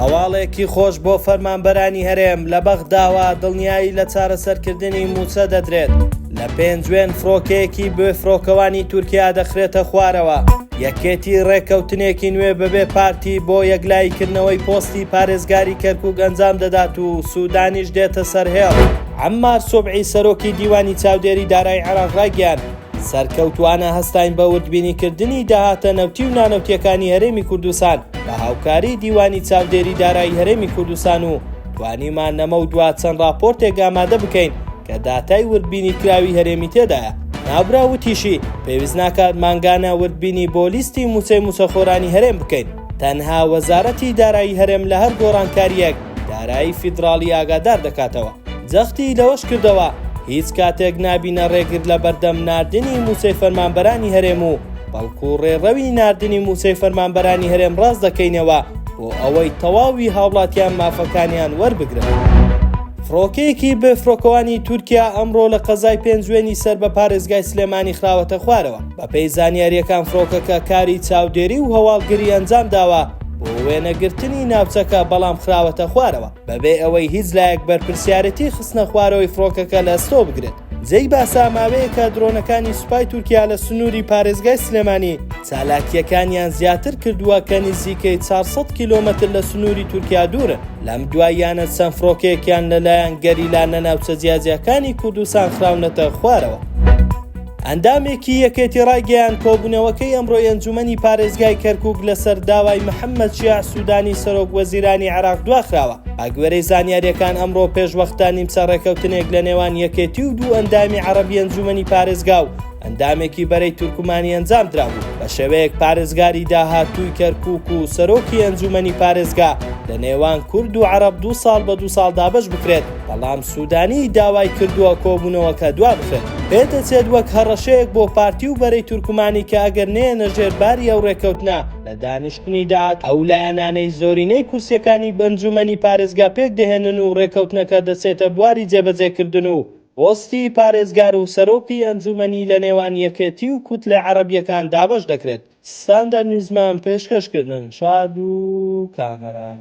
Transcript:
هەواڵێکی خۆش بۆ فەرمانبەرانی هەرێم لە بەغداوە دڵنیایی لە چارەسەرکردنی مووچە دەدرێت لە پێنجوێن فڕۆکەیەکی بێ فڕۆکەوانی تورکیا دەخرێتە خوارەوە یەکێتی ڕێککەوتنێکی نوێ بەبێ پارتی بۆ یەکلاییکردنەوەی پۆستی پارێزگاری کەرکک ئەنجام دەدات و سوودانیش دێتە سەر هێڵ عەممار سوبعی سەرۆکی دیوانی چاودێری دارای عێراق ڕایگەیاند سەرکەوتوانە هەستاین بە وردبینی کردنی داهاتە نەوتی و نانەوتیەکانی هەرێمی کوردستان بە هاوکاری دیوانی چاودێری دارایی هەرێمی کوردستان و توانیمان نەمە و دوا چەند راپۆرتێک ئامادە بکەین کە داتای وردبینی کراوی هەرێمی تێدایە ناوبرا وتیشی پێویست ناکات مانگانە وردبینی بۆ لیستی موچەی موچەخۆرانی هەرێم بکەین تەنها وەزارەتی دارایی هەرێم لە هەر گۆڕانکاریەک دارایی فیدراڵی ئاگادار دەکاتەوە. جەختی لەوەش کردەوە، هیچ کاتێک نابینە رێگر لە بەردەم ناردنی مووچەی فەرمانبەرانی هەرێم و بەڵکو رێڕەوی ناردنی مووچەی فەرمانبەرانی هەرێم راست دەکەینەوە بۆ ئەوەی تەواوی هاوڵاتیان مافەکانیان وەربگرن. فڕۆکەیەکی بێفڕۆکەوانی تورکیا ئەمڕۆ لە قەزای پێنجوێنی سەر بە پارێزگای سلێمانی خراوەتە خوارەوە. بەپێی زانیارییەکان فڕۆکەکە کاری چاودێری و هەواڵگری ئەنجام داوە بۆ وێنەگرتنی ناوچەکە بەڵام خراوەتە خوارەوە بەبێ ئەوەی هیچ لایەک بەرپرسیارەتی خستنە خوارەوەی فڕۆکەکە لە ئەستۆ بگرێت. جێی باسە ماوەیەکە درۆنەکانی سوپای تورکیا لە سنووری پارێزگای سلێمانی چالاکیەکانیان زیاتر کردووە کە نزیکەی 400 کیلۆمەتر لە سنووری تورکیا دوورن لەم دواییانە چەند فڕۆکێکیان لەلایەن گەریلا لە ناوچە جیاجیاکانی کوردستان خراونەتە خوارەوە. ئەندامێکی یەکێتی ڕایگەیاند کۆبوونەوەکەی ئەمڕۆی ئەنجومەنی پارێزگای کەرکک لەسەر داوای محەممەد شیاع سوودانی سەرۆک وەزیرانی عێراق دواخراوە بەگوێرەی زانیاریەکان ئەمڕۆ پێشوەختە نیمچە ڕێکەوتنێک لە نێوان یەکێتی و دوو ئەندامی عەرەبی ئەنجومەنی پارێزگا و ئەندامێکی بەرەی تورکمانی ئەنجام درابوو بە شێوەیەک پارێزگاری داهاتووی کەرکک و سەرۆکی ئەنجومەنی پارێزگا لە نێوان کورد و عرب دو ساڵ بە دو ساڵ دابەش بکرێت. بەڵام سوودانی داوای کردووە کۆبوونەوەکە دوابخرێت. پێدەچێت وەک هەڕەشەیەک بۆ پارتی و بەرەی تورکمانی کە ئەگەر نەیەنە ژێر باری ئەو رێککەوتنە، لە دانیشتنی داد، ئەو لایەنانەی زۆرینەی کورسییەکانی بەنجوومەنی پارێزگا پێکدەهێنن و رێککەوتنەکە دەچێتە بواری جێبەجێکردن و پۆستی پارێزگار و سەرۆکی ئەنجوومەنی لەنێوان یەکێتی و کوتلە عەرەبییەکان دابەش دەکرێت. ستاندەر نیوزمان پێشکەش کردن شاد و کامەران.